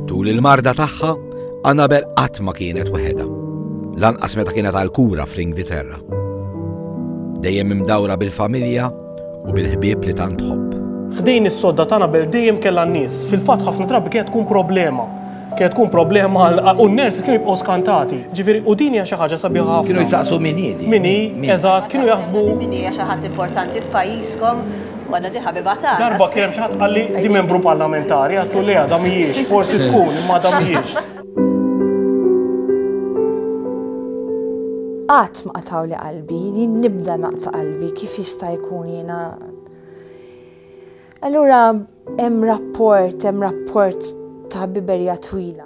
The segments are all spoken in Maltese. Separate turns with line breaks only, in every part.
Tul il-marda tagħha, Annabel qatt ma kienet weħeda. Lanqas meta kienet għal kura fl-Ingilterra. Dejjem imdawra bil-familja u bil-ħbieb li tant tħobb. F'din is-sodda ta' Annabel dejjem kellha n-nies. Fil-fatt ħafna drabi kienet tkun problema. Kienet tkun problema u n-nurses kienu jibqgħu skantati. Ġifieri u din hija xi ħaġa sabiħa ħafna. Kienu jsaqsu min hi. Min hi, eżatt, kienu jaħsbu. Min hija xi ħadd importanti f'pajjiżkom Waħda di ħabiba tagħna. Darba kien hemm xi ħadd qalli di membru parlamentari, għatlu li għadha mhijiex, forsi tkun imma għadha mhijiex. Qatt ma qataw li qalbi, jien nibda naqta' qalbi kif jista' jkun jiena. Allura hemm rapport, hemm rapport ta' biberja twila.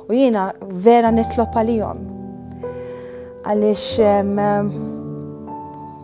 U jiena vera nitlob għalihom. Għaliex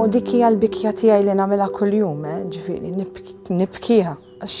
U dik hija l-bikja tiegħi li nagħmilha kuljum, eh, ġifieri nibkiha għax.